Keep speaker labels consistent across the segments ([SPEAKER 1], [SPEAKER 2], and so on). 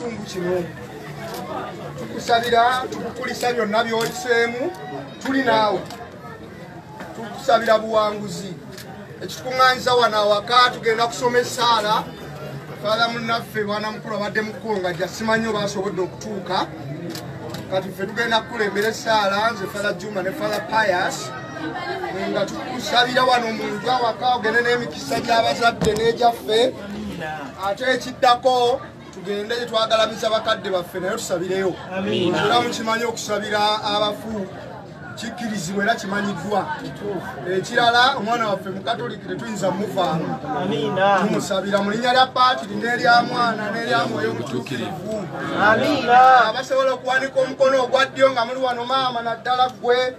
[SPEAKER 1] kitundu kino tukusabira tukukulisa byonna byoyiseemu tuli naawe tukusabira buwanguzi ekitukuŋŋanyiza wano awaka tugenda kusoma essaala fatha munnaffe mwana mukulu abadde mukukonga jasimanyi oba asobodde okutuuka kati ffe tugenda kukulembera essaala nze fatha juma ne fatha pias nga tukusabira wano mu nju awaka ogende n'emikisa gy'abazadde n'egyaffe ate ekiddako tugende gyetwagalamiza bakadde baffe naye tusabireyo era mukimanyi okusabira abafu kikkirizibwa era kimanyiddwa ekirala omwana waffe mukatoliki tetuyinza muvaamu tumusabira mu linnya lya paatiri n'erya mwana n'erya mwoyo omutuukirivu abasobola okuwanika omukono ogwa ddyo nga muli wano maama naddala ggwe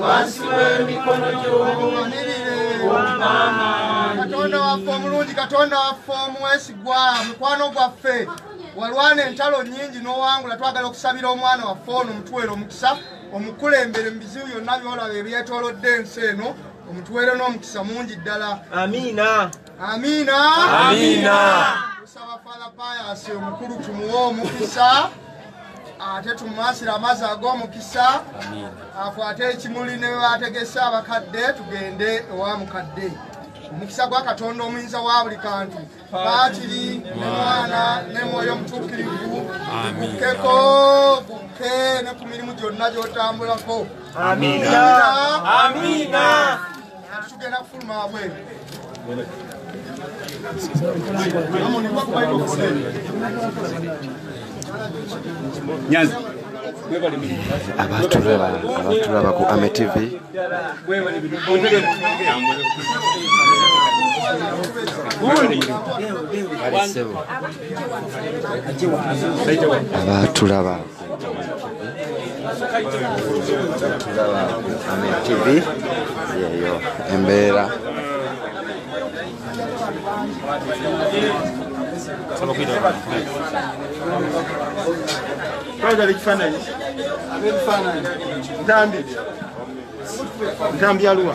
[SPEAKER 1] wansi w'emikono gy'omukatonda waffe omulungi katonda waffe omwesigwa mukwano gwaffe walwana entalo nyingi n'owangula twagala okusabira omwana waffe ono omutuwere omukisa omukulembere mu bizibu byonna byolaba ebyetolodde ensi eno omutuwere n'omukisa mungi ddala amiina Amina. Amina. Tusaba Father Pius omukulu tumuwe omukisa ate tumumansira amazzi ag'omukisa akwate ekimuli ne bwebategese abakadde tugende ewa mukadde omukisa gwa katonda omuyinza wa buli kantu baatiri ne mwana ne mwoyo omutuukirivu gukkeko gukke ne ku mirimu gyonna gy'otambulako amiina tugenda kufuluma
[SPEAKER 2] wabweru nyanzi
[SPEAKER 3] abatulaba abatulaba ku ame tv abatulaba TV yeeyo embeera
[SPEAKER 1] twagala ekifaananyi ntambi ntambi aluwa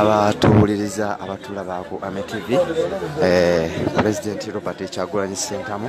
[SPEAKER 3] abatuwuliriza abatulaba ku ametv eh, pulezidenti robert kyagulanyi sentamu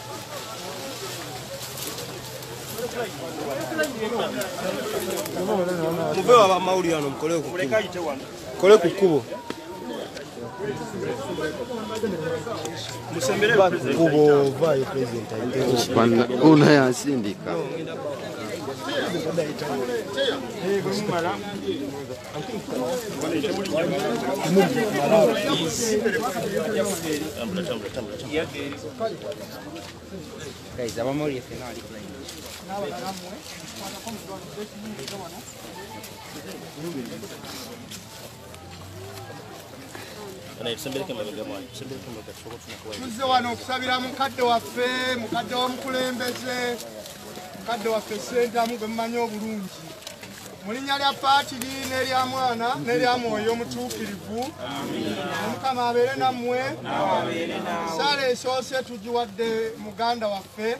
[SPEAKER 4] muve waba mawulire ano mukole kole ku kkubo kubo vaayo pulezidenti ayiteuna
[SPEAKER 3] yansindika
[SPEAKER 5] Guys, I'm only if you're
[SPEAKER 1] not playing. tuzze wano okusabira mukadde waffe mukadde wa mukulembeze mukadde waffe sentamu gwe mumanyi obulungi mu linnya lya paatiri n'erya mwana n'erya mwoyo omutuukirivu omukama abeere nammwe saala esoose tugiwadde muganda waffe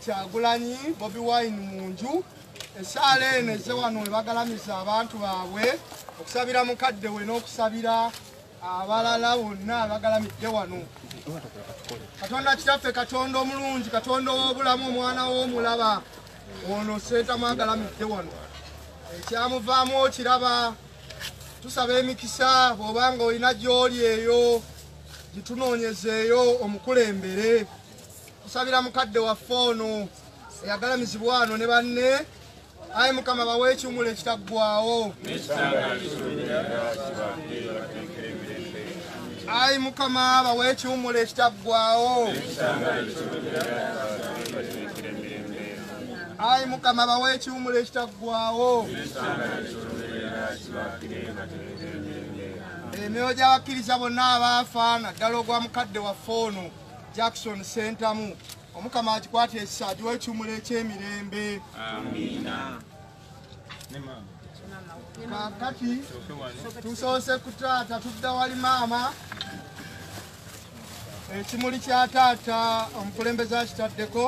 [SPEAKER 1] kyagulanyi bobi wine mu nju esaala eno eze wano webagalamiza abantu baabwe okusabira mukadde we n'okusabira abalala bonna abagalamidde wano katonda kitaffe katonda omulungi katonda ow'obulamu omwana w'omulaba ono seetamu agalamidde wano ekyamuvaamu okiraba tusaba emikisa bw'oba nga olina gy'oli eyo gitunoonyezeeyo omukulembere tusabira mukadde waffe ono eyagalamizibwa wano ne banne ayi mukama bawe ekiwumulo ekitaggwawo ayi mukama bawe ekiwumula ekitaggwawo ayi mukama bawe ekiwumula ekitaggwawo emyoyo gy'abakkiriza bonna abaafa naddala ogwa mukadde waffe ono jackson sentamu omukama akikwata ekisa agiwa ekiwumula eky'emirembe amiina kakati tusoose ku taata tudda wali maama ekimuli kya taata omukulembeze akitaddeko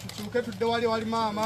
[SPEAKER 1] tukyuke tudde wali wali maama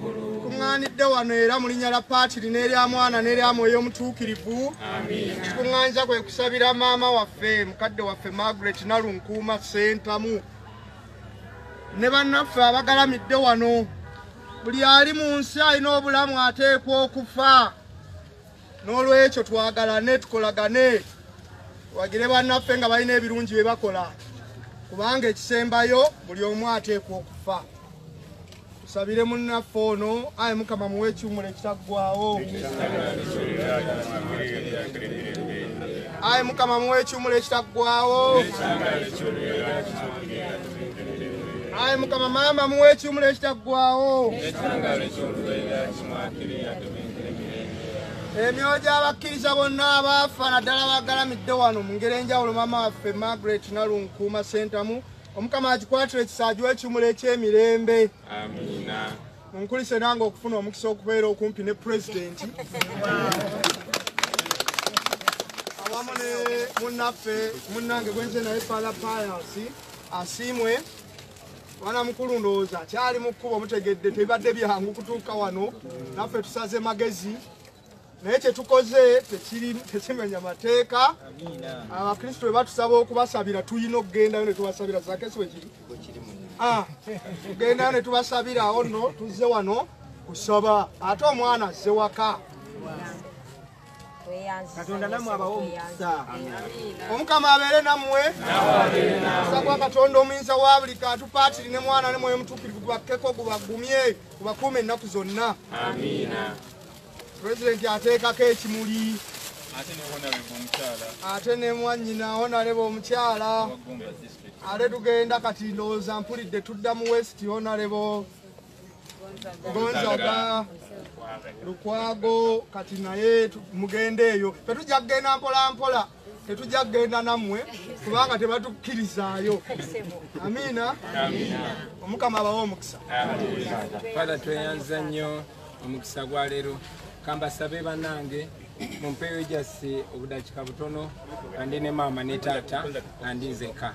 [SPEAKER 1] tukuŋŋaanidde wano era mu linnya lya paatiri n'erya mwana n'erya mwoyo omutuukirivu kikuŋŋaanyiza kwe kusabira maama waffe mukadde waffe margaret nalunkuuma sentamu ne bannaffe abagalamidde wano buli ali mu nsi alina obulamu ateekwa okufa n'olwekyo twagalane tukolagane wagire bannaffe nga balina ebirungi bye bakola kubanga ekisembayo buli omu ateekwa okufa tusabire munnaffe ono ayi mukama muwa ekiwumulo ekitaggwawo ayi mukama muwa ekiwumulo ekitaggwawo ayi mukama maama muwa ekiwumulo ekitaggwawo emyoyo gy'abakkiriza bonna abaafa naddala bagalamidde wano mu ngeri enjawulo maama waffe margaret nalunkuuma sentamu omukama akikwatira ekisaajuwa ekimula eky'emirembe munkulise nange okufuna omukisa okubeera okumpi ne pulezidenti awamu ne munnaffe munnange gwenze naye fala payasi asiimwe mwana mukulu ndowooza kyali mu kkubo mutegedde tebibadde byangu kutuuka wano naffe tusaze magezi naye kyetukoze tekimenya mateeka abakristu bwe batusaba okubasabira tulina okugendayo netubasabira zakesi wekiri ah, tugendayo netubasabirawo no tuzze wano kusaba ate omwana azze waka katonda namwe abawe omukisa omukama abeere nammwe omusa gwa katonda omuyinza wa buli kantu paatiri ne mwana ne mwoyo mutuukirivu gubakkeko gubagumye gubakuuma ennaku zonna pulezidenti ateekako ekimuli ate ne mwanyina onaleba omukyala ate tugenda kati ndowooza mpulidde tudda mu west onalebo gonzaga lukwago kati naye mugende eyo tetujja kugenda mpolampola tetujja kugenda nammwe kubanga tebatukkirizaayo amiina omukama abawe omukisa fada
[SPEAKER 6] tweyanza nnyo omukisa gwa leero kambasabe banange mumpeeyo jasi obudakika butono andi ne maama ne taata andi nzeka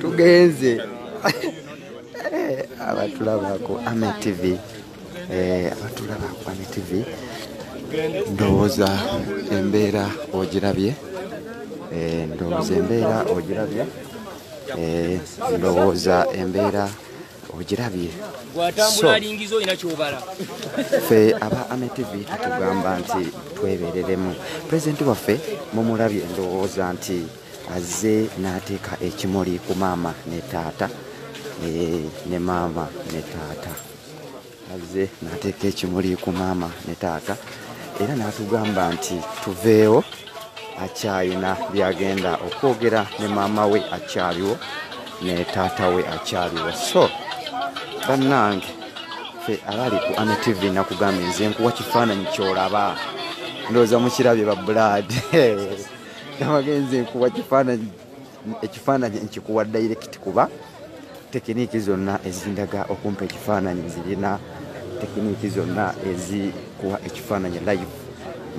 [SPEAKER 3] tugenze eh, abatulabako ame tv eh, abatulabako ame tv ndowooza embeera ogirabye eh, ndowooza embeera ogirabye ndowooza embeera ogirabye fe aba ame tv tutugamba nti twebereremu pulezidenti waffe mumulabye ndowooza nti azze n'ateeka ekimuli ku maama ne taata eh, ne maama ne taata azze n'ateeka ekimuli ku maama ne taata era n'atugamba nti tuveewo akyalina byagenda okwogera ne maama we akyaliwo ne taata we akyaliwo so bannange fe abali ku ane tv nakugambye nze nkuwa kifaananyi kyolaba ndowooza mukirabye ba bulaadi nabagenze nkuwa kifaananyi ekifaananyi nkikuwa direct kuba tekiniiki zonna ezindaga okumpa ekifaananyi zirina tekiniiki zonna ezikuwa ekifaananyi live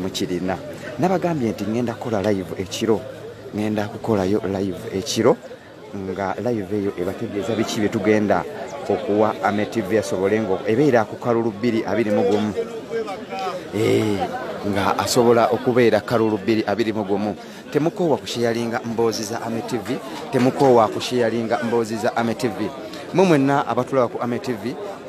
[SPEAKER 3] mukirina nabagambye nti ŋenda kukola live ekiro ŋenda kukolayo live ekiro nga live eyo ebategeeza biki bye tugenda okuwa ametv asobole nga ebeera ku kalulu bbiri abiri mu gumu eh, nga asobola okubeera kalulu bbiri abiri mu gumu temukoowa kusheyalinga mboozi za ametv temukoowa kusheyalinga mboozi za ametv mwe mwenna abatulaba ku ametv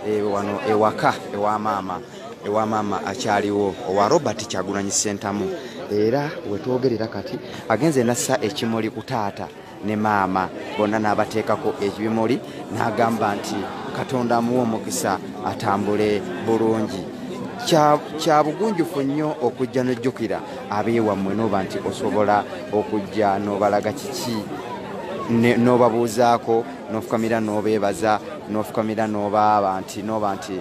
[SPEAKER 3] eh, wano ewaka ewa maama ewa maama akyaliwo owa robert kyagunanyi sentamu era wetwogerera kati agenze nassa ekimuli ku taata ne maama bonna n'abateekako ekibimuli n'agamba nti katonda amuwa omukisa atambule bulungi kya bugunjufu nnyo okujja n'ojjukira abeewammwe n'oba nti osobola okujja n'obalaga kiki n'obabuuzaako n'ofukamira n'obeebaza n'ofukamira n'obaaba nti n'oba nti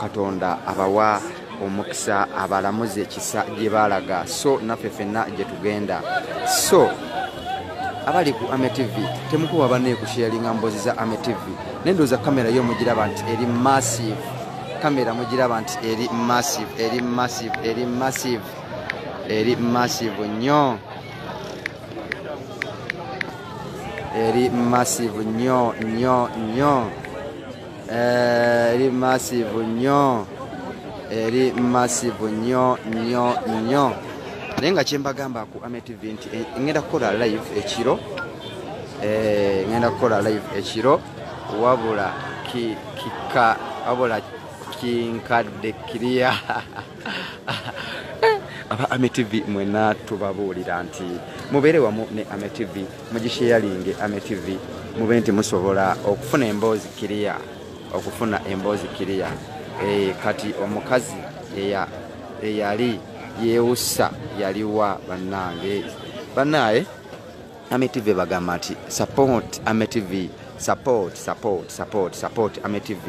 [SPEAKER 3] katonda abawa omukisa abalamuzi ekisa gye baalaga so naffe fenna gye tugenda so abali ku ame tv temukuba banaye kusharinga mbozi za ame tv naye ndowooza kamera yo mugiraba nti eri massive kamera mugiraba nti eri massive eri massive eri massive eri massive nnyo eri massive nnyo nnyo nnyo Eh, eri massive nnyo eri massive nnyo nnyo nnyo naye nga kyembagamba ku ametv nti eh, ŋenda kukola live ekiro eh, ŋenda kukola live ekiro wabula kika wabula kinkadde kiriya aba ame tv mwena tubabuulira nti mubeere wamu ne ame tv mugisheyalinge ame tv mube nti musobola okufuna emboozi kiriya okufuna emboozi kiriya e, kati omukazi eyali yewusa yaliwa bannange bannaaye Ame TV bagamba nti support Ame TV support support support support Ame TV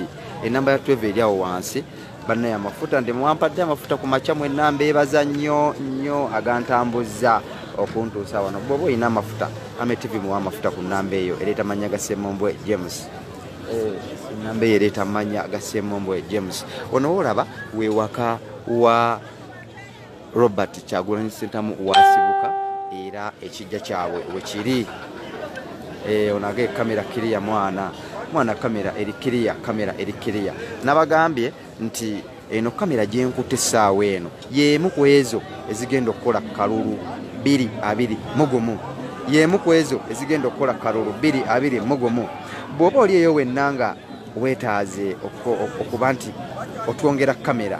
[SPEAKER 3] enamba ya tweve eri awo wansi banaye amafuta ndi mwampadde amafuta ku makya mwe enamba ebaza nnyo nnyo agantambuzza okuntuusa wano bwoba olina amafuta Ame TV muwa amafuta ku namba eyo ereeta mannya ga Ssemombwe James eh, enamba eyo ereeta mannya ga Ssemombwe James onowoolaba wewaka wa Robert Kyagulanyi Ssentamu wasibuka era ekijja kyabwe wekiri eh, onage kamera kiriya mwana mwana kamera eri kiriya kamera eri kiriya nabagambye nti eno kamera gyenkuta essaawa eno yeemu ku ezo ezigenda okukola kalulu biri abiri mugumu yeemu ku ezo ezigenda okukola kalulu biri abiri mugumu bw'oba oli eyo wenna nga wetaaze okuba nti otwongera kamera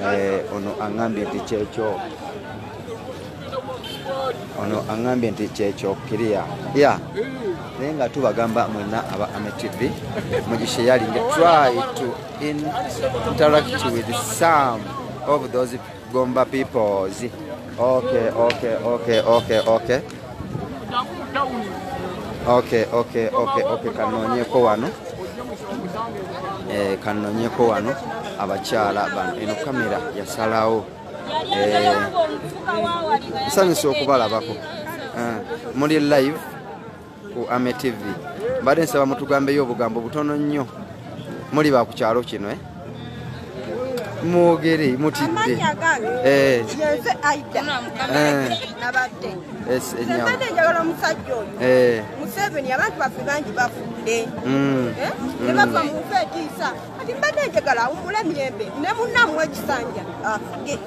[SPEAKER 3] Eh, ono aŋambye nti kyekyo ono aŋambye nti kyekyo kiriya ya naye nga tubagamba mwena aba ametv mugisheyalinge try to interact with some of those gomba peoples okay okay okay okay okay Okay, okay, okay, okay, kanonyeko wano. Eh, kanonyeko wano abakyala bano eno kamera yasalawo eh, nsanyusa okubalabako eh, muli live ku ame tv mbadde nsaba mutugambeyo obugambo butono nnyo muli bakukyalo kino eh? mwogere mutidde eh. enjagala
[SPEAKER 7] eh. omusajja oyo eh. museveni abantu baffe bangi bafudde mm. nebava mm. mu nfe etiisa kati mbadde njagala awumula emirembe ne munnamu ekisanja afuge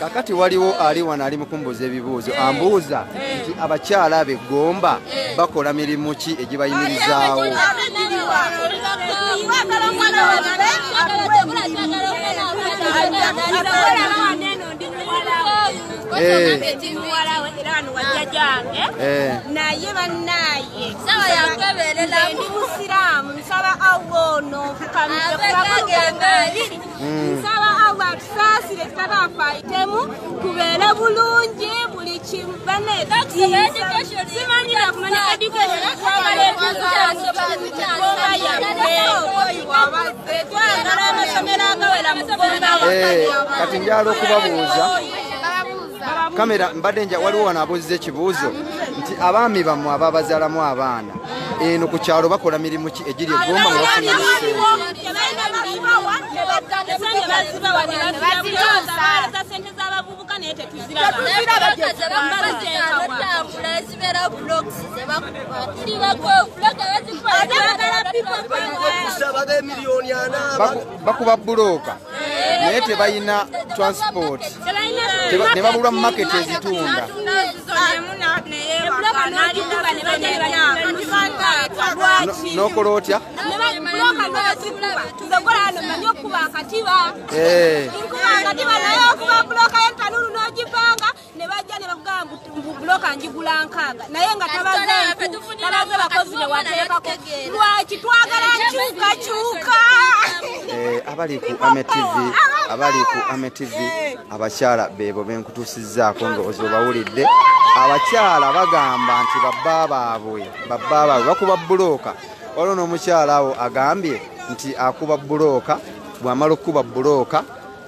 [SPEAKER 3] kakati waliwo ali wano ali mukumbuuza ebibuuzo eh. ambuuza eh. nti abakyala abe gomba eh. bakola mirimu ki egibayimirizaawo naye banaye
[SPEAKER 7] ndi musiraamu nsaba awo ono nfukamire mm. nsaba allah atusaasire tutabafaitemu kubeere bulungi buli kimu banesimanyi nakumanya education twagala ekizasobaayaeoiwabazze twagala amasomero agawera mugomba
[SPEAKER 3] kati njala okubabuuza kamera mbadde nja waliwo wano abuuziza ekibuuzo nti abaami bammwe ababazaalamu abaana eno ku kyalo bakola mirimu ki egiri egomba nga bafuna bakuba bulooka naye tebalina transport ne babulwa mu market ezitunda nokola otya
[SPEAKER 7] ne bajja ne bakugamba mbu buloka njigula nkaaga naye nga tabaze bakozi be wateekako lwaki twagala nkyukakyuka eh, abali ku ame
[SPEAKER 3] tv abali ku ame tv abakyala beebo benkutuusizzaako ndowoozi obawulidde abakyala bagamba nti babba baabwe babba baabwe bakuba bulooka waliwo n'omukyala awo agambye nti akuba bulooka bw'amala okukuba bulooka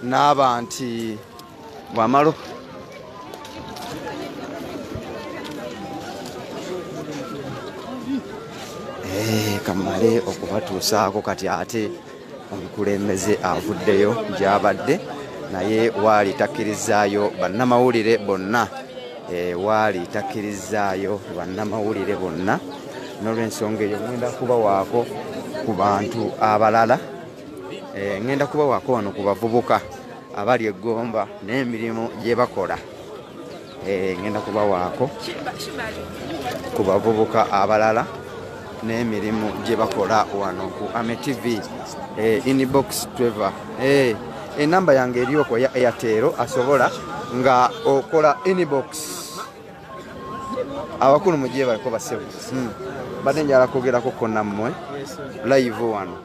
[SPEAKER 3] n'aba nti wamalo eh, kamale okubatuusaako kati ate omukulembeze avuddeyo gyabadde naye waali takkirizaayo bannamawulire bonna eh, waali takkirizaayo bannamawulire bonna nolwensonga eyo ŋenda kubawaako ku bantu abalala eh, ŋenda kubawaako wano ku bavubuka abali eggomba n'emirimu gye bakola eh, ngenda kubawaako ku bavubuka abalala n'emirimu gye bakola wano ku ame tv eh, inbox trevor eh, enamba eh, yange eryoko ya airtero asobola nga okola inbox abakulu mugiye baliko basebu hmm. bade njala kwogerako ko nammwe live wano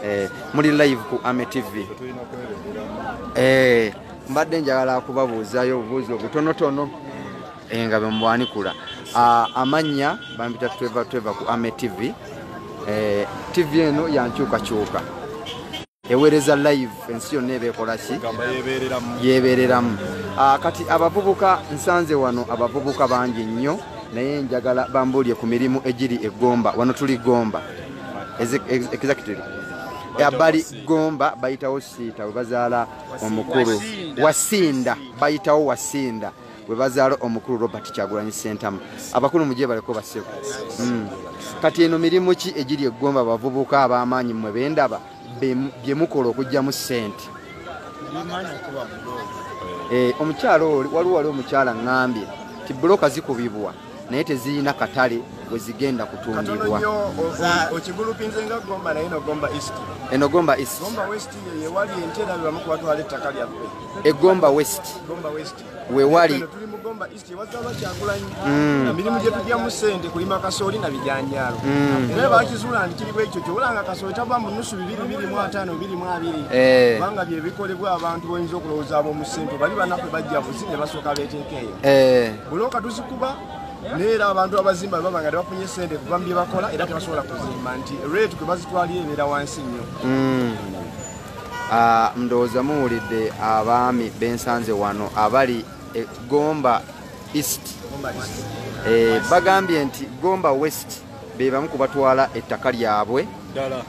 [SPEAKER 3] eh, muli live ku ame tv eh, mbadde njagala kubabuuzayo obubuuzi obutonotono eh, nga bemubwanikula ah, amannya bampita tweva tweva ku ame tv eh, tv eno yankyukakyuka ewereza live ensi yonna ebekolaki yebereramu ah, kati abavubuka nsanze wano abavubuka bangi nnyo naye njagala bambuulye ku mirimu egiri egomba wano tuli gomba exactly abali gomba bayitawo siita bwe bazaala omukulu wasinda bayitawo wasinda bwe bazaala omukulu robert kyagulanyi sentamu abakulu mugye baleko baseko hmm. kati eno mirimu ki egiri egomba abavubuka ab'amaanyi mmwe bendaba bye mukola okugyamu sente eh, omukyala oli waliwo wali omukyala ngambye ti buloka zikubibwa naye tezirina katale we zigenda kutundibwa
[SPEAKER 1] enogomba egomba
[SPEAKER 3] west wewali
[SPEAKER 1] Gomba East
[SPEAKER 3] ewaza
[SPEAKER 1] bakyakulanyi mm. na mirimu gye tujjamu ssente kulima kasooli na bijanjaalo mm. era bakizuula nti kiri bwekyo kyobulanga kasooli tava mu nusu bibiri biri mu ataano biri mu abiri eh. kubanga bye bikolebwa abantu boyinza okulowooza ab'omu ssente bali banaffe bajja buzi ne basooka beeteeka eyo eh. bulooka tuzikuba naye era abantu abazimba baba nga tebafunye sente kuva mu bye bakola era tebasobola kuzimba nti rate kwe bazitwalira ebeera wansi nnyo hmm. ah,
[SPEAKER 3] ndowooza muwulidde abaami bensanze wano abali e gomba east eh, bagambye nti gomba west be bamu ku batwala ettaka lyabwe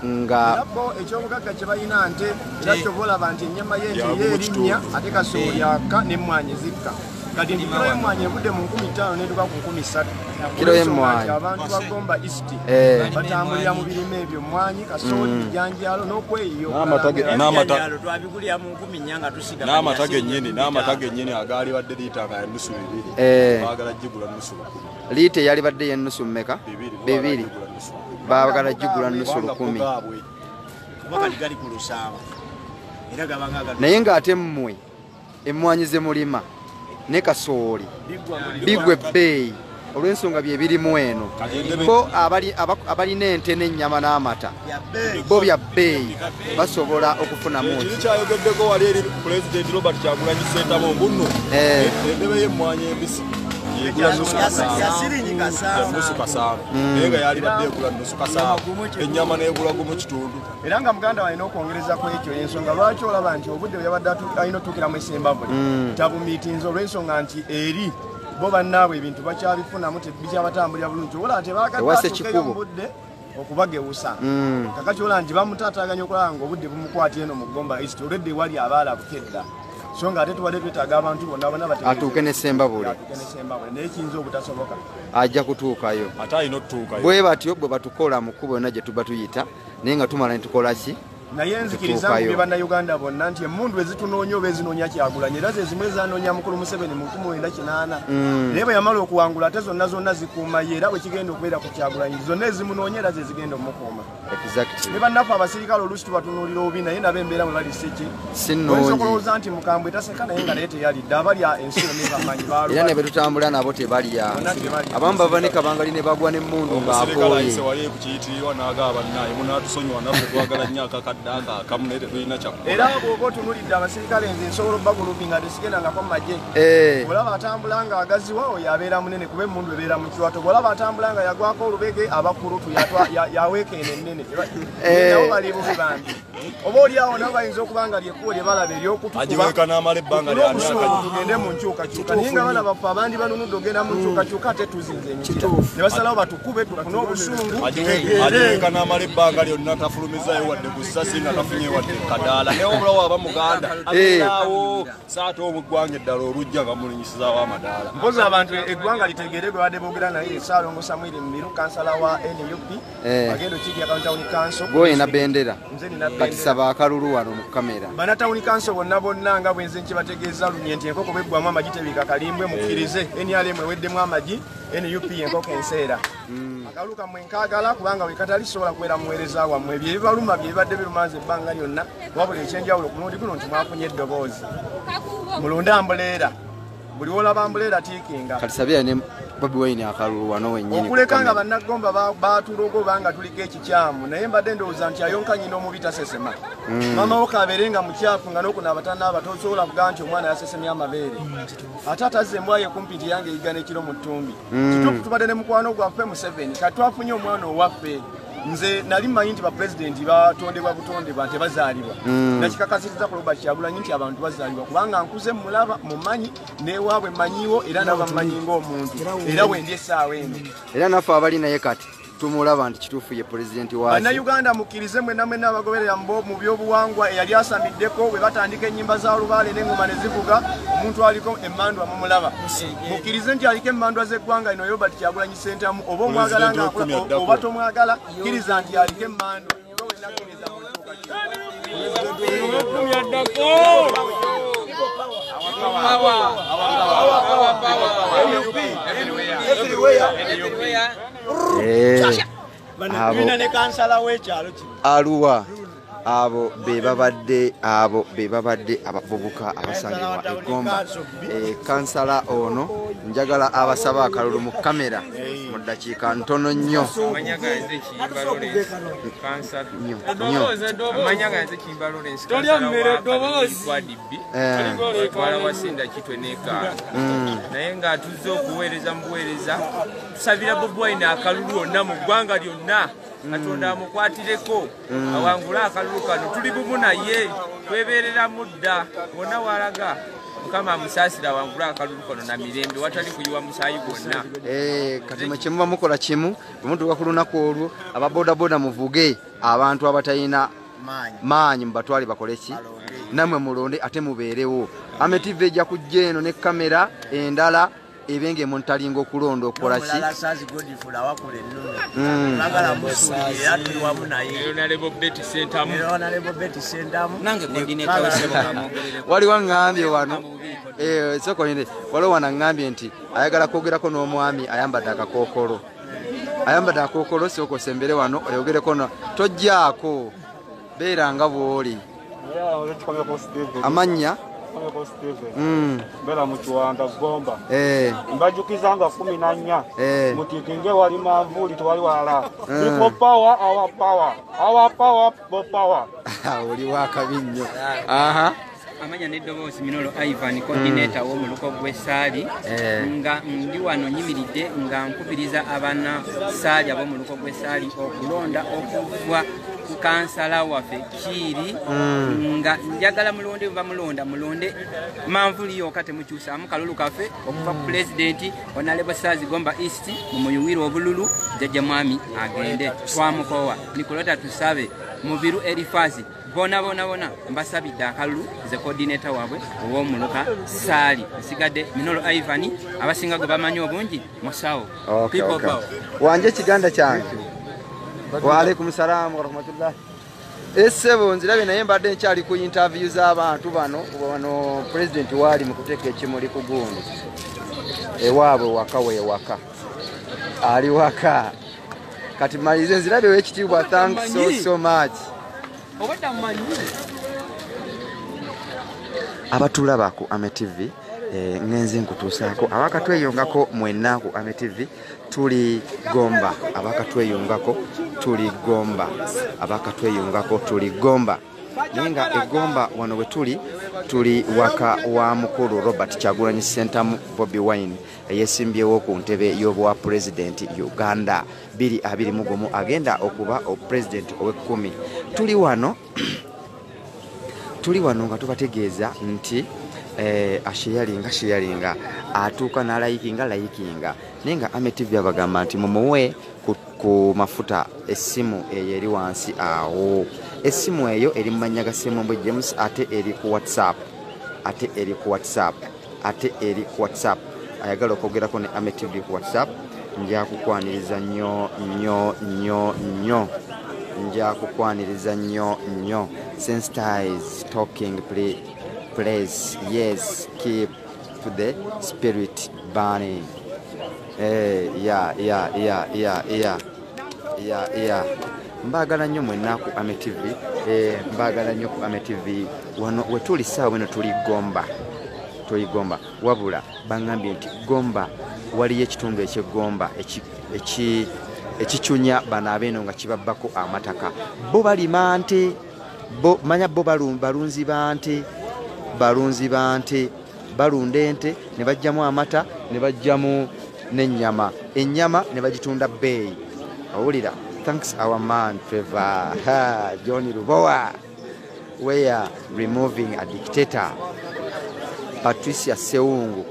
[SPEAKER 3] nga nabo ekyobugagga
[SPEAKER 1] kye balina nte kyakyoba olaba nti ennyama ye nti ye erinnya ate kasoyaka n'emmwanyi zikka kati nti kiro y'emmwanyi evudde mu nkumi ttaano netuka ku nkumi ssatu kiro y'emmwanyi
[SPEAKER 3] abantu bagomba
[SPEAKER 1] east eh. batambulira mu birime ebyo mmwanyi kasooli mm. ebijanjaalo n'okweyiyo
[SPEAKER 4] twabigulira mu nkumi nnya nga tusiga n'amata gennyini n'amata gennyini agaali badde liita nga nusu bibiri eh. bagala gigula nusu bakulu liita eyalibadde yenusu
[SPEAKER 3] mumeka bibiri baagala jigula nusu lukumi naye ng'ate mmwe emmwanyi ze mulima ne kasooli bigwa ebbeeyi olw'ensonga bye birimu eno bo abalina ente n'ennyama n'amata bo bya bbeeyi basobola okufunamu kiri kyayogeddeko wali
[SPEAKER 4] eri pulezidenti robert kyagulanyi sentabo mbunno eh. endebe y'emmwanyi embisi nusu kasaano hmm. naye nga yalibadde egula nusu kasaano ennyama negula gumu kitundu era nga muganda walina
[SPEAKER 1] okwongereza ku ekyo ensonga lwaki olaba nti obudde bweyabadde alina otuukiramu esembabwe hmm. tabumiitinza olw'ensonga nti eri bo bannaabwe ebintu bakyabifunamu tebikyabatambulira bulungi obola tebagadde atuukeyo mubudde okubagewusa mm. kakati olaba nti bamutaataganya okulaba nga obudde bumukwata eno mu gomba east olwedde ewali abaala bukedda so nga ate tubadde twetaaga abantu bonna bona atuuke ne sembabule
[SPEAKER 3] naye
[SPEAKER 1] kiyinza obutasoboka ajja kutuukayo
[SPEAKER 3] ate alina otutuukayo
[SPEAKER 4] bwe batyo bwe batukola
[SPEAKER 3] mu kkubo yonna gye tuba tuyita naye nga tumala ne tukola ki naye nzikiriza
[SPEAKER 1] nti be bannayuganda bonna nti emundu ezitunoonya oba ezinoonya kyagulanya era zezimu ezanoonya mukulu museveni mu nkumi wenda kinaana mm. naye bwe yamala okuwangula ate zonna zonna zikuuma ye era bwe kigenda okubeera ku kyagulanyi zonna ezimunoonya era zezigenda omukuuma ne bannaffe abasirikale oluusi tubatunuulira obi naye nabo embeera mwe bali siki oyinza okulowooza nti mukambwe taseka naye nga naye teyalidde abalya ensi yonebamanyi era ne betutambula nabo
[SPEAKER 3] tebalya abamu bava ne kabangali ne bagwa n'emmundu ng'akooye kiyitirirwa
[SPEAKER 4] n'agaba bannaaye munaatusonyiwa naffe twagala nnyo akakadde ako akamu naye tetulina kyakko era bwoba otunulidde
[SPEAKER 1] abasirikale nze nsobola obagulupi nga tesigendangako mu magye eh. olaba atambula nga agaziwa oyo abeera munene kuba emundu ebeera mu kiwato bwolaba atambula nga yagwako olubege abakulutu yaweekeene ennene eh. nawo bali bubi bambi oba oli awo nabo bayinza okuba nga lyekkubo lye balaba eryokutugende mu nkyukakyuka naye nga bana baffe abandi banunudde ogenda mu nkyukakyuka ate tuzinze emikira ne basalawo batukube tufune obusungu ajiweka
[SPEAKER 4] n'amala ebbanga lyonna tafulumizayo wadde ku ssasi nga tafunye wadde kadaala naye obula waba muganda eh. abeerawo saate omu eggwanga eddala olujja nga mulinyisizawo amadaala mpozi abantu
[SPEAKER 1] eggwanga litegeere gwe badde boogera naye saalongo samwiri mumiru kansala wa nup Eh. agenda okiikira kano tawuni kanso gwoyina bendera
[SPEAKER 3] kati saba akalulu wano mu kamera bana tawuni kanso bonna
[SPEAKER 1] bonna nga bwenze nkibategeeza lunye nti enkoko bweggwamu amagi tebika kalimbwe mukkirize eh. nrm eweddemu amagi nup enkoko enseera hmm. akalulu kamwe nkaagala kubanga wekatali sobola kubeera muweereza wammwe ebyo ebibaluma bye bibadde birumanza ebbanga lyonna wabula ekyenjawulo ku mulundi guno nti mwafunye eddoboozi mulunde ambuleera buli wolaba mbuleera tiikinga kati sabira ne
[SPEAKER 3] bobi wayini akalulu wano wenyini okuleka nga bannagomba
[SPEAKER 1] baatulogo oba nga tuliko ekikyamu naye mbadde ndowooza nti ayonka nyina omubi tasesema mm. mama wo kabeere nga mukyafu nga nokuna abatana aba tosobola kuga nti omwana yasesemya amabeere mm, ate atazza embwayo kumpi nti yange eyigana ekiro mu ttumbi mm. kituufu tubadde ne mukwano gwaffe museveni katwafunye omwana owaffe nze nali mmanyi nti bapulezidenti batondebwa butondebwa nte bazaalibwa mm. nakikakasiriza ku robert kyagulanyi nti abantu bazaalibwa kubanga nkuze mulaba mumanyi newaabwe mmanyiwo era nabammanyi ngaomuntu era wendi essaawa eno era naffe abali naye
[SPEAKER 3] kati tumulaba nti kituufu ye pulezidenti wa bannayuganda mukkirize
[SPEAKER 1] mwena mwena abagoberera mbo mu byobuwangwa eyali asamiddeko bwe batandika ennyimba za lubaale n'engoma ne zivuga omuntu aliko emmandwa mumulaba mukkirize nti aliko emmandwa z'eggwanga ino yobert kyagulanyi sentamu oba omwagala nga
[SPEAKER 3] oba tomwagala kiriza nti aliko emmando aluwa abo bebabadde abo bebabadde abavubuka abasangibwa egomba eh, kansala ono njagala abasaba akalulu mu kamera mu ddakiika ntono nnyo
[SPEAKER 6] naye nga tuzze okuweereza mu buweereza tusabira bobi wine akalulu onna mu ggwanga lyonna katonda amukwatireko mm. awangule akalulu kano tuli bumu naye twebereramu dda wonna walaga mukama amusaasira wangula akalulu kono na mirembe watali kuyiwa musaayi gwonna eh, kati mwe
[SPEAKER 3] kyemuba mukola kimu bwemutuuka ku lunaku olwo aba bodaboda muvuge abantu abatalina maanyi mubatwale bakole ki namwe mulonde ate mubeerewo ametiva ejja kujja eno ne kamera endala ebe nga emuntalinga okulonda okola ki waliwo ngambye wano eh, sokoine waliwo wana ngambye nti ayagala kwogerako n'omwami ayambadde akakokolo ayambadde akokolo sokosembere wano oyogereko tojjaako beera nga bwoli amannya mm. bera
[SPEAKER 8] mukiwanda gomba eh. mbajukiza nga kumi na nnya eh. mutikinge wali manvuli tewali wala ipo eh. power our power our power bo power
[SPEAKER 3] oli wakabi nnyo aha
[SPEAKER 5] amanya n'eddoboozi minolo ivan mm. coordinator w'omuluko gw'essaali nga ndi wano nyimiridde nga nkubiriza abana saali ab'omuluko gw'essaali okulonda okuvwa ku kansala waffe kiiri mm. nga njagala mulonde bamulonda mulonde manvuli yoka temukyusamu kalulu kafe okuva ku mm. pulezidenti onalebosaazi gomba east mumuyuwire obululu jajja mwami agende twamukowa nikolota tusabe mubiru erifasi bona bona bona mbasabidde akalulu ze kodineta wabwe owomuluka saali nsigadde minolo ivan abasinga gwe bamanyi obungi musawo
[SPEAKER 3] wanje ekiganda kyange waalaikum salaamu warahmatullahi esebo eh, nzirabe naye mbadde nkyali ku interview z'abantu bano wano president waali mu kuteeka ekimuli ku gundi ewaabwe waka wewaka ali waka kati malize nzirabe wekitiibwa thanks so, so much abatulaba ku ame tv eh, ngenze nkutuusaako abakatweyongako mwenna ku ame tv tuli gomba abakatweyungako tuli gomba abakatweyungako tuli gomba naye nga egomba wano we tuli tuli waka wa mukulu robert kyagulanyi sentamu bobi wine eyesimbyewo ku ntebe y'obwa pulezidenti uganda 221 agenda okuba pulezidenti ow'ekkumi tuli wano tuli wano nga tubategeeza nti eh, asheyalinga sheyalinga atuuka nalayikinga layikinga naye nga ame tv abagamba nti mumuwe ku mafuta essimu eyo eri wansi awo essimu eyo eri mu mannya ga semumbwe james ate eri ku whatsapp ate eri ku whatsapp ate eri ku whatsapp ayagala okwogerako ne ame tv ku whatsapp njakukwaniriza nnyo nnyo nnyo nnyo njakukwaniriza nnyo nnyo senstis talking place yes keep to the spirit burning hey, eh, yeah, yeah, yeah, yeah, yeah. ya ya mbaagala nnyo mwenna ku ame tv eh, mbaagala nnyo ku ame tv wano wetuli saawa weno tuli gomba tuli gomba wabula baŋambye nti gomba waliyo ekitundu ekyegomba ekicunya bano abeeno nga kibabbako amataka bo balima nte manya bo balunzi ba nte balunzi ba nte balunda ente ne bajjamu amata ne bajjamu n'ennyama ennyama ne bagitunda bbeeyi owulira thanks our man trevor john lubowa weare removing a dictator patricia sewungu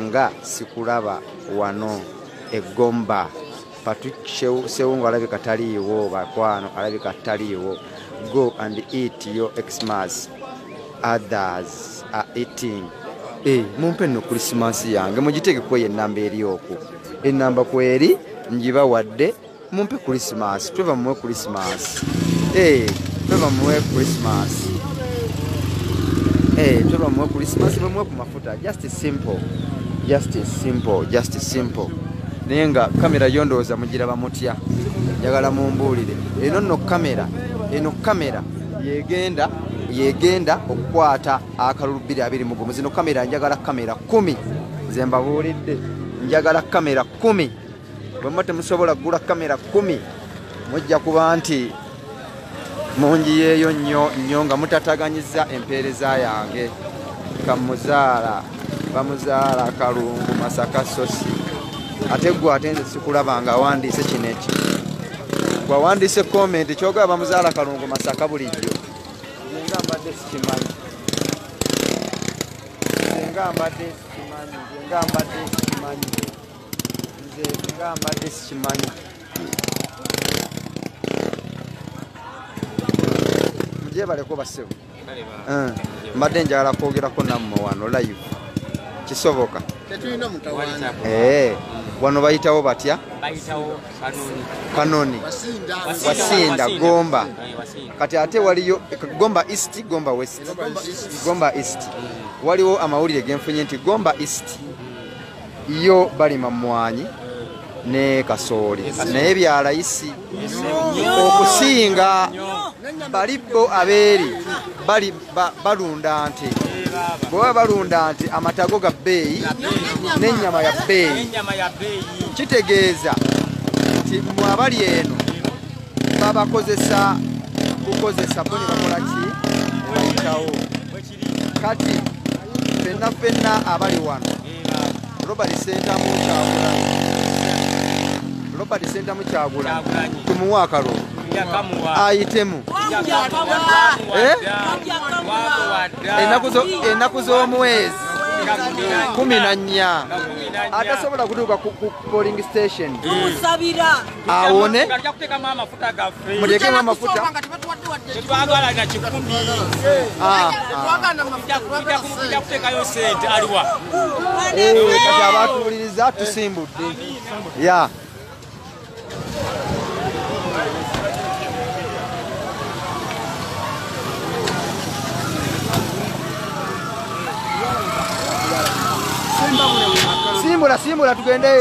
[SPEAKER 3] nga sikulaba wano egomba Patrick Sewungu alabika taliiwo bakwano, alabika taliiwo. Go and eat your Xmas. Others are eating. Eh, mumpe no Christmas yange mujiteke kwa ye namba eri oku. E namba kweri njiba wadde mumpe Christmas. Tweva mwe Christmas. Eh, tweva mwe Christmas. Eh, tweva mwe Christmas mwe mwe kumafu. just simple just simple just simple naye nga kamera yo ndowooza mugiraba mutya njagala mumbuulire eno nno kamera eno kamera yegenda yegenda okukwata akalulu 221 zino kamera njagala kamera 1 ze mbabuulidde njagala kamera 1 bwemuba temusobola kugula kamera 1 mujja kuba nti munjiyeeyo nnyo nnyo nga mutataganyizza empeereza yange kamuzaala bamuzaala kalungu masaka sosi ate gwe ate nze sikulaba nga awandiise kino eki gwawandiise komenti kyogaa bamuzaala kalungu masaka bulijjo nga mbadde sikimanyi nga mbadde sikimanyi nga mbadde sikimanyi nze nga mbadde sikimanyi gyebaleko basebo eh, mbadde njagala kwogerako nammwe wano live kisoboka
[SPEAKER 1] eh,
[SPEAKER 3] wano bayitawo batya
[SPEAKER 5] kanoni
[SPEAKER 3] wasinda gomba eh, kati ate waliyo gomba east gomba west gomba east waliwo amawulire genfunye nti gomba east yo balima mmwanyi ne kasooli naye bya layisi okusinga bali bo abeeri bali balunda nte bwebaba balunda nti amatago ga bbeeyi n'ennyama ya bbeeyi kitegeeza nti mwe abali eno babakozesa kukozesa bo ne bakola ki bayitawo kati fenna fenna abali wano robert sentamu kyagulanyi robert sentamu kyagulanyi tumuwe akalulu ayitemu eh? enaku z'omwezi kumi na nnya atasobola kutuuka ku polling station awone mutekemu amafuta kati abatuwuliriza tusimbudde ya simbula simbula tugende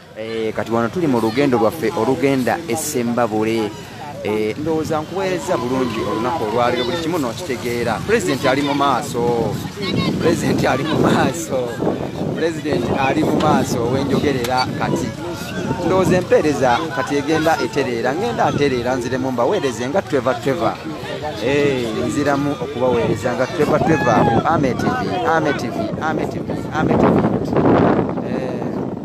[SPEAKER 3] Eh, kati wano tuli mu lugendo lwaffe olugenda esembabule eh, ndowooza nkuweereza bulungi olunaku olwaliro buli kimu nokitegeera pulezidenti ali mu maaso pulezidenti ali mu maaso pulezidenti ali mu maaso owenjogerera kati ndowooza empeereza kati egenda etereera ngenda atereera nziremu mbaweereze nga tweva tweva eh, nziramu okubaweereza nga tweva tweva ku ametv ametv ametv ametv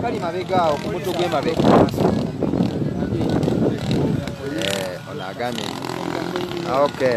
[SPEAKER 3] kali mabega awo ku mutu gw'emabega eh, ono agambye ah, okay.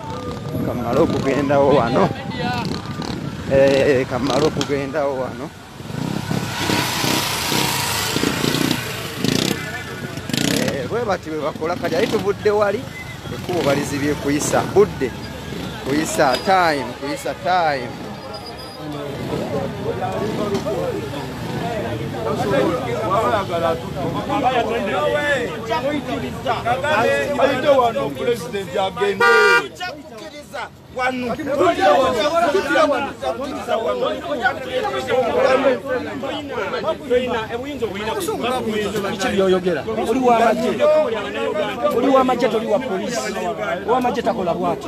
[SPEAKER 3] kamala okugendawo wano eh, kamala okugendawo wano eh, bwebati bwebakola kati aye tubudde wali ekkubo balizibye kuyisa budde kuyisa time kuyisa time byoyogera oli wamagye oli wamagye toli wa polisi wamagye takola bwati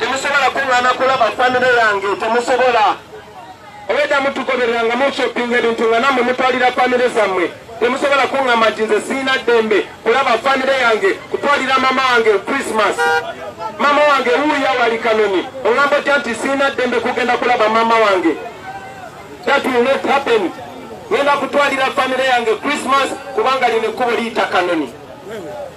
[SPEAKER 9] temusobola kuŋŋaana kulaba famire yange temusobola obwedda mutugoberera nga mushoppinga ebintu nga namwe mutwalira famire zammwe temusobola kuŋŋamba nti nze siina ddembe kulaba famire yange kutwalira mama wange christmas mama wange wuuya wali kanoni oŋŋamba otya nti siina ddembe kugenda kulaba mama wange that will not happen ŋenda kutwalira famire yange christmas kubanga lino ekkubo liyita kanoni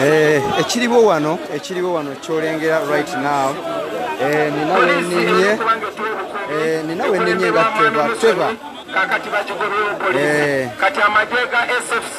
[SPEAKER 3] Eh, ekiriwo wano ekiriwo wano kyolengera right now eh, nina weninye eh, nina weninye nga teva teva kakati
[SPEAKER 9] bakigobyokole kati amagye ga sfc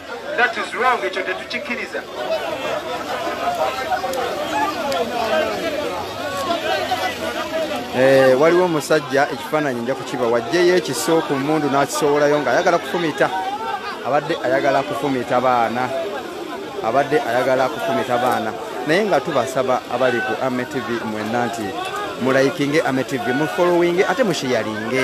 [SPEAKER 9] That is wrong, ekyo tetukikiriza.
[SPEAKER 3] Eh, waliwo omusajja ekifaananyi nja kukiba wajjeyo ekiso ku mundu n'akisowolayo nga ayagala kufumita abadde ayagala kufumita baana abadde ayagala kufumita baana naye nga tubasaba abali ku ametv mwenna nti mulayikinge ametv mufolowinge ate mushiyalinge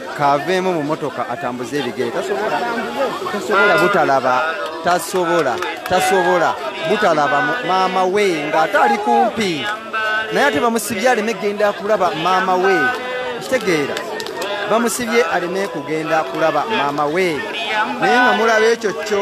[SPEAKER 3] kaveemu mu motoka atambuze ebigere tasobola tasobola butalaba tasobola tasobola butalaba maama we ng'ate ali kumpi naye ate bamusibye aleme kugenda kulaba maama we kitegeera bamusibye aleme kugenda kulaba maama we naye nga mulaba ekyo kyo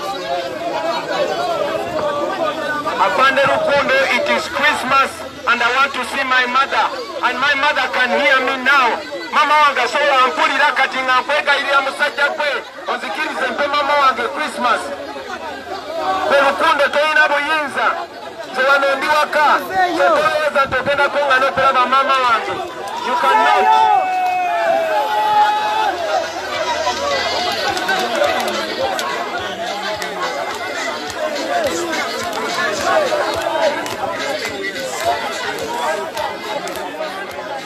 [SPEAKER 9] Afande Rukundo, it is Christmas and I want to see my mother and my mother can hear me now. Mama wange asobola ampulira kati nga nkwegayirira musajja gwe onzikirize mpe mama wange Christmas. Rukundo tolina buyinza. Wano ndi waka kyetowooza nti ogenda kunga n'okulaba maama wange you cannot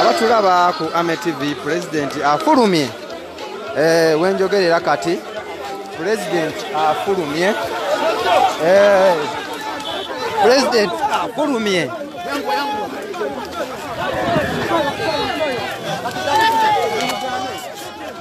[SPEAKER 3] abatulaba ku ame tv pulezidenti afulumye eh, wenjogerera kati pulezidenti afulumye eh, pulezidenti afulumye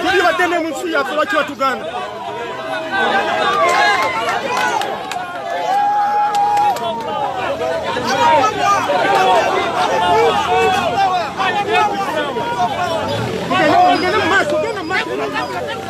[SPEAKER 10] Kiri bateme mu nsi yaffe lwaki batuganda Thank you.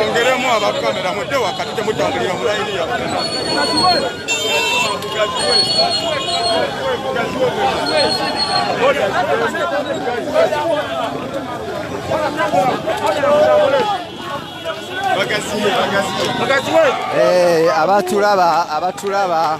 [SPEAKER 10] Ongeremu abakamera mudde wakati temutambulira mulayini yaffe.
[SPEAKER 3] Hey, eh, abatulaba abatulaba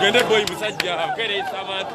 [SPEAKER 10] Gende boy musajja akereesa abantu